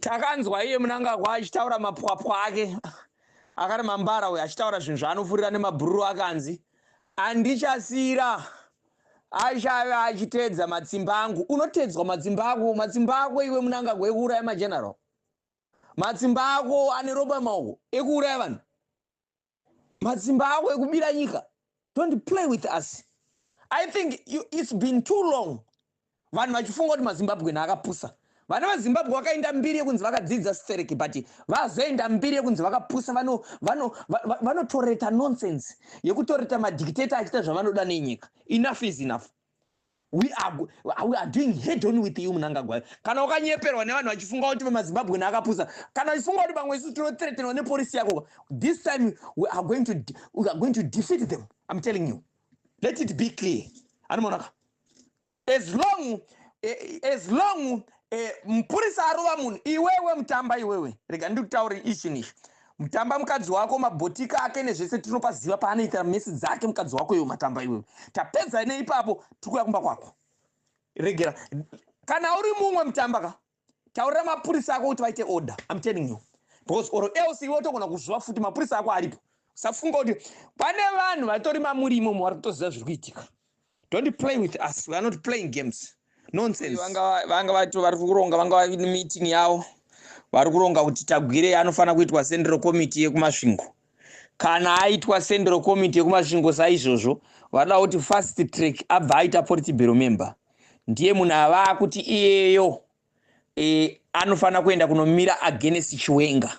Takanzwa iye Munangagwa achitaura mapwapwa ake akati mambara uyu achitaura zvinhu zvaanofurira nemabhururu akanzi andichasira achave achitedza matsimba angu unotedzwa matsimba ako matsimba ako iwe munangagwa ekuuraya mageneral matsimba ako ane roba maoko ekuuraya vanhu matsimba ako ekubira nyika don't play with us i think you, it's been too long vanhu vachifunga kuti mazimbabwen akapusa vana vazimbabwe vakaenda mbiri yekunzi vakadzidza stereki but vazoenda mbiri yekunzi vakapusa vanotoreta nonsense yekutoreta madictator achiita zvavanoda nenyika enough is enough we are, we are doing head on with you munangagwai kana wakanyeperwa nevanhu vachifunga kuti vemazimbabwe naakapusa kana vachifunga kuti vamwe isu tinothretenwa nepolisi yako this time we are going to, we are going to defeat them i'm telling you let it be clear anomaonaka as long eh, as long Eh, mupurisa arova munhu iwewe mutamba iwewe rega ndiri kutaura ichi nishi mutamba mukadzi wako mabhotika ake nezvese tinopaziva paanoita mesi dzake mukadzi wako iwe matamba iwewe tapedza neipapo tikuya kumba kwako regera kana uri mumwe mutamba ka taurira mapurisa ako kuti vaite order im telling you because or else iwe utogona kuzviva futi mapurisa ako aripo usafunga kuti pane vanhu vatori mamuri imomo vari kutoziva zviri kuitika don't play with us we are not playing games nonsense vanga vato vari kuronga vanga vavi nemeeting yavo vari kuronga kuti tagwirei anofanira kuitwa central committee yekumasvingo kana aitwa central committee yekumasvingo saizvozvo vanoda kuti fast track abva aita politibero member ndiye munhu avaa kuti iyeyo e, anofanira kuenda kunomira agenesi chiwenga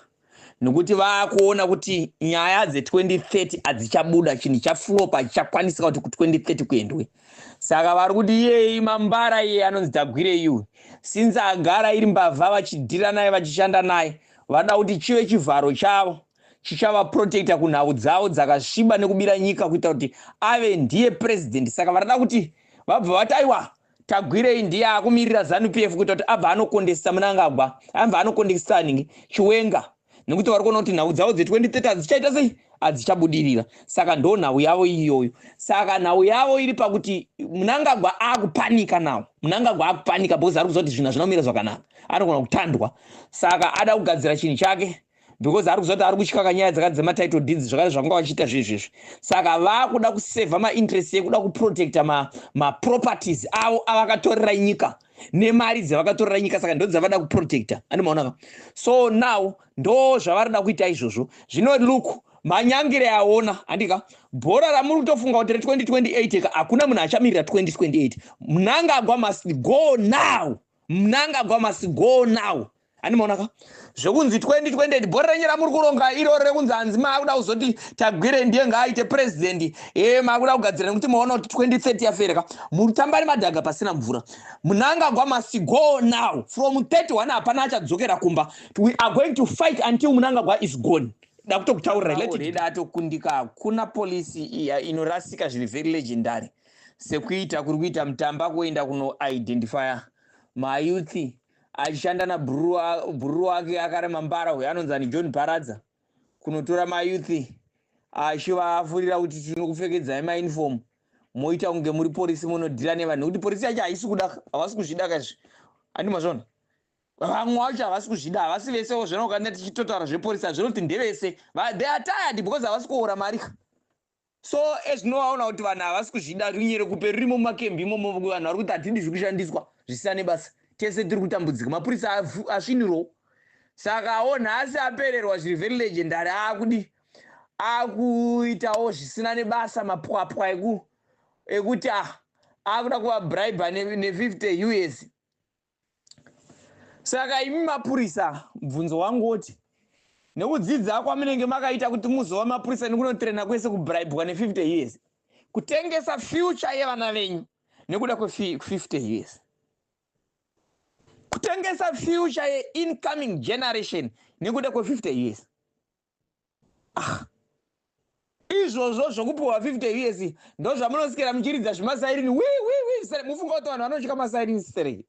nokuti vakuona kuti nyaya dze2030 hadzichabuda chinhu chaflopa hachichakwanisika kuti ku2030 kuendwe saka vari kuti iyei mambara iye anonzi tagwire iwe since agara iri mbavha vachidhira naye vachishanda naye vanoda kuti chive chivharo chavo chichavaprotecta kunhau dzavo dzakasviba nekubira nyika kuita kuti ave ndiye president saka vanoda kuti vabva vati aiwa Tagwirei ndiye akumirira zanu PF kuita kuti abva anokondesisa munangagwa anva anokondesisa aningi chiwenga nekuti vari kuona kuti nhau dzavo dze 2030 hadzichaita sei hadzichabudirira saka ndo nhau yavo iyoyo saka nhau yavo iri pakuti munangagwa akupanika nawo munangagwa akupanika because ari kuziva kuti zvinhu hazvina kumira zvakanaka anogona kutandwa saka ada kugadzira chinhu chake because ari kuziva kuti ari kutyaka nyaya dzakati dzematitle deeds zvakare zvakanga vachiita zvezvezvi saka vakuda kusevha mainterest yekuda kuprotecta maproperties ma avo avakatorera nyika nemari dzavakatorera nyika saka ndo dzavada kuprotecta andi maonaka so now ndo zvavarida kuita izvozvo zvino look manyangire aona handika bhora ramuri kutofunga kuti re2028 ka hakuna munhu achamirira 2028 mnangagwa must go now mnangagwa must go now handimaona ka zvekunzi 2020 bhora renyu ramuri kuronga iroro rekunzi hanzi maakuda kuzoti tagwire ndiye ngaaite president e maakuda kugadzira nekuti maona kuti 2030 yafere ka mutambari madhaga pasina mvura munangagwa must go now from 31 hapana achadzokera kumba we are going to fight until munangagwa is gone dakutokutaurira letida atokundika hakuna polisi iya inorasika zviri very legendary sekuita kuri kuita mutamba kuenda kunoidentifya mayouthi achishanda nabhururu wake akarema mbara uyo anonzi ani john bharadza kunotora mayuthi achivafurira kuti tinokupfekedzai maunifomu moita kunge muri porisi munodhira nevanhu nekuti porisi yacho haisi kuda havasi kuzvida kaizvi andima zvona vamwe vacho havasi kuzvida havasi vese wo zvona ukanea tichitotaura zveporisi hazvinoti ndevese they are tired because havasi kuora mari ka So as no waona kuti vanhu havasi kuzvida rinye rekupe ririmo mumakembi imomo vanhu vari kuti hatidi zviri kushandiswa zvisina nebasa tese tiri kutambudzika mapurisa asvinirwo saka awo nhasi apererwa zviri very legendary akudi akuitawo zvisina nebasa mapwapwa eku ekuti ah akuda kuvabribe ne50 us Saka imi mapurisa, mubvunzo wangu woti, nekudzidza kwamunenge makaita kuti muzova mapurisa nekunotrena kwese kubribwa ne50 years, kutengesa future yevana venyu nekuda kwe50 years, kutengesa future yeincoming generation nekuda kwe50 years, ah. izvozvo zvokupiwa 50 years ndozvamunosikira muchiridza zvimasairini wiwiwi sere mufunga kuti vanhu vanotya masairini serei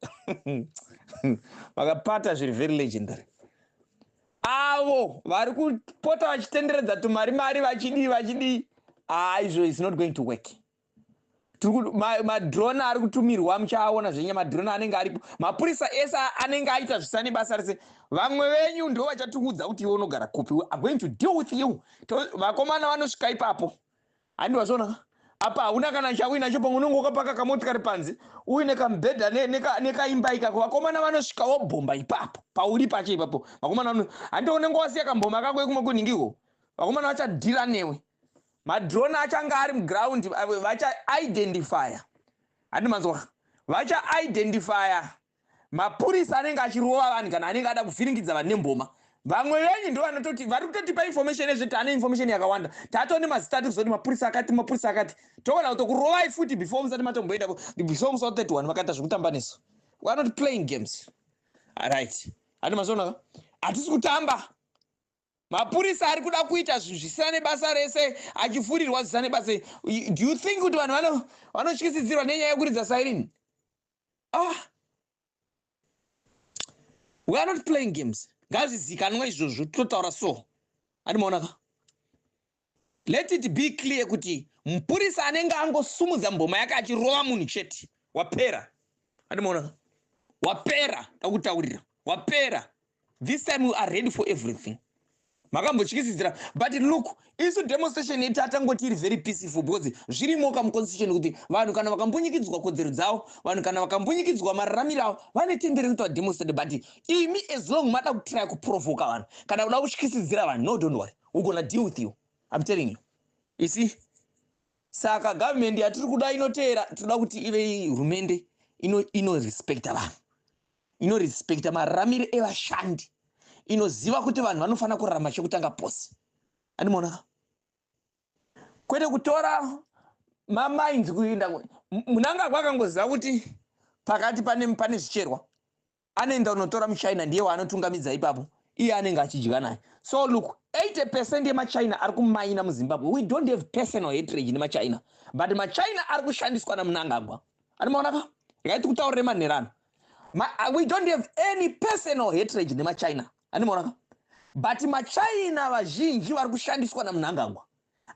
vakapata zviri very legendary avo vari kupota vachitenderedza tumari mari vachidii vachidii haa ah, izvo is not going to work madrone ari kutumirwa muchaaona zvenye madrone anenge aripo mapurisa ese anenge aita zvisane basa rese vamwe venyu ndo vachatiudza kuti iwe unogara kupi we are going to deal with you vakomana vanosvika ipapo handi vazvona apa hauna kana chauinacho pamwe unenge ukapaka kamotikari panze uine kamubhedha nekaimba ikako vakomana vanosvika wobhomba ipapo pauri pacho ipapo vakomana handi unenge wasiya kamboma kako yekumwe kunhingiko vakomana vachadhira newe Madrone achanga ari muground vacha identifya handi manzwa vacha identifya mapurisa anenge achirova vanhu kana anenge ada kuvhiringidza vanhu nemboma vamwe venyu ndo vanototi vari kutotipa information ezve tane information yakawanda tato nemazita tiri kuzoti mapurisa akati mapurisa akati togona kutokurovai futi before musati matomboenda before musa 31 vakaita zvekutamba nesu weare not playing games aright handi mazonaka hatisi kutamba mapurisa ari kuda kuita zvinhu zvisina nebasa rese achifurirwa zvisina nebasa do you think kuti vanhu vanotyisidzirwa nenyaya yekuridza sairini ah we are not playing games ngazvizikanwa izvozvo totaura so andimaona ka Let it be clear kuti mupurisa anenge angosumudza mboma yake achirova munhu chete wapera andimaona wapera ndakutaurira wapera this time we are ready for everything makambotyisidzira but look isu demonstration yedu tatangoti iri very peaceful because zvirimoka muconstitution kuti vanhu kana vakambunyikidzwa kodzero dzavo vanhu kana vakambunyikidzwa mararamiro avo vane tendere kuti vademonstrate but imi as long mada kutraya kuprovoka vanhu kana kuda kutyisidzira vanhu no don't worry we gonna deal with you i'm telling you you see saka government yatiri kuda inoteera tinoda kuti ive hurumende inorespecta ino vanhu inorespecta mararamiro evashandi inoziva kuti vanhu vanofanira kurarama chekutanga pose andimoona kwete kutora mamainzi kuenda munangagwa akangoziva kuti pakati pane pane zvicherwa anoenda kunotora muchina ndiye waanotungamidza ipapo iye anenge achidya naye so look 80 percent yemachina ari kumaina muzimbabwe we don't have personal hatrage nemachina but machina ari kushandiswa namunangagwa anomaona ka regai tikutaurire manherano uh, we don't have any personal hatrage nemachina anomaona ka but machina vazhinji vari kushandiswa namunangagwa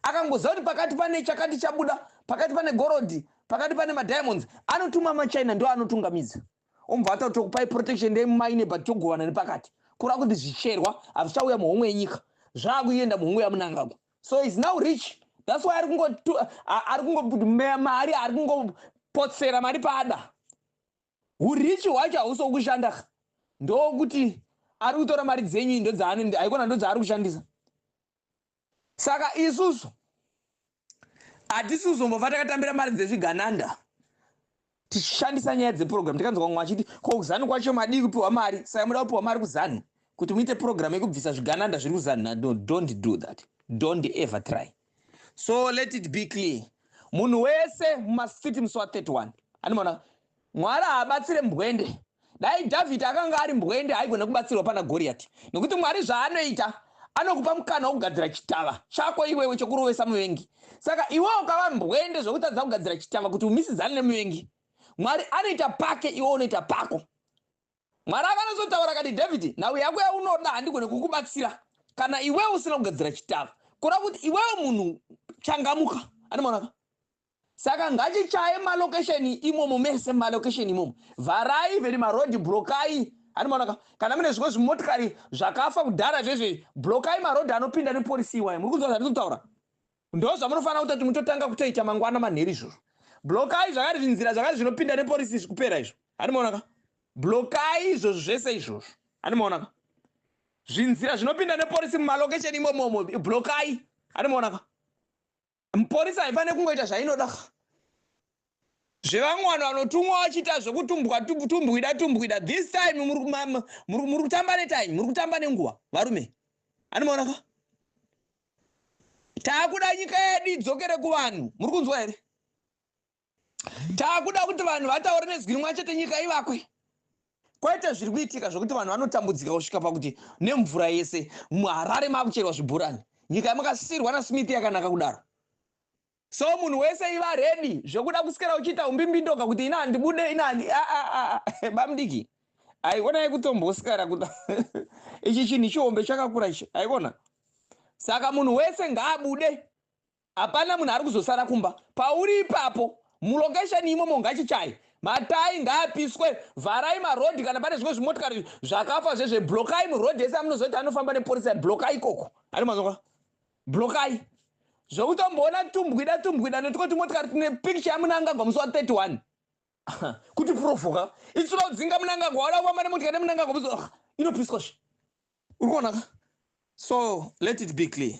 akangoziva kuti pakati pane chakati chabuda pakati pane gorodhi pakati pane madiamonds anotuma machina ndo anotungamidza ombva ataura tokupai protection day mumaine but togovana nepakati kura kuti zvicherwa hazvichauya muhomwe yenyika zvaakuenda muhomwe yamunangagwa so is now rich thats why ari kungomeya mari ari kungopotsera mari paada urichi hwacho hausi wokushanda ndokuti ari kutora mari dzenyu ndodzaanende haikona ndodzaari kushandisa saka isusu hatisi kuzombofa takatambira mari dzezvigananda tichishandisa nyaya dzeprogram tikanzwa vamwe vachiti ko kuzanu kwacho madii kupiwa mari saka muda kupiwa mari kuzanu kuti muite program yekubvisa zvigananda zviri kuzanu no don't do that don't ever try so let it be clear munhu wese mumastreet musi wa 31 animona Mwari haabatsire mbwende. Dai Dhavhidhi akanga ari mbwende haigona kubatsirwa pana Goriyati. Nokuti Mwari zvaanoita anokupa mukana wokugadzira chitava chako iwewe chokurovesa muvengi. Saka iwe ukava mbwende zvokutadza kugadzira chitava kuti umisidzane nemuvengi. Mwari anoita pake iwe unoita pako. Mwari akanozotaura akati, Dhavhidhi, nhau yako yaunoda handigone kukubatsira kana iwewe usina kugadzira chitava. Kureva kuti iwewe munhu changamuka. Anomaonaka? Saka ngatichaye ma location imomo mese muma location imomo vharai even ma road blokai Hani maona ka kana mune zvimwe zvimotikari zvakafa kudhara zvezve blokai ma road anopinda ne police iwayo muri kunzwa zvandiri kutaura ndo zvamunofanira kuita kuti mutotanka kutoita mangwana manheri izvozvo blokai zvakari zvinzira zvakari zvinopinda ne police izvi kupera izvo Hani maona ka blokai izvozvo zvese izvozvo Hani maona ka zvinzira zvinopinda ne police muma location imomo blokai Hani maona ka Mporisa haifane kungoita zvainoda ka. Zvevamwe vanhu vanotumwa vachiita zvekutumbwa tumbwida tumbwida this time muri kutamba netime muri kutamba nenguva varume. Anomaona ka. Takuda nyika yedu idzokere kuvanhu muri kunzwa here. takuda kuti vanhu vataure nezwi rimwe chete nyika ivakwe kwaita zviri kuitika zvekuti vanhu vanotambudzika kusvika pakuti nemvura yese muharare makucherwa zvibhurani nyika yamakasirwa nasmith yakanaka kudaro so munhu wese iva redi zvekuda kusikira uchiita umbimbindoga kuti ina handibude ina handi bamdiki haikona yekutombosikara kuti ichi chinhu chihombe chakakura ichi haikona saka munhu wese ngaabude Hapana munhu ari kuzosara kumba pauri ipapo mulocation imomo ngachichaye matai ngaapiswe vharai marodhi kana pane zvimwe zvimotikari zvakafa zvezve blokai murodhi ese amunozoti anofamba neporisa blokai ikoko ari mazonga blokai zvekutomboona tumbwida tumbwida netiko tumotikari tine picture yamunangagwa musi wa 31 kuti provoka itsura udzinga munangagwa wada kufamba nemotikari nemunangagwa musi inopiswa zve uri kuonaka so let it be clear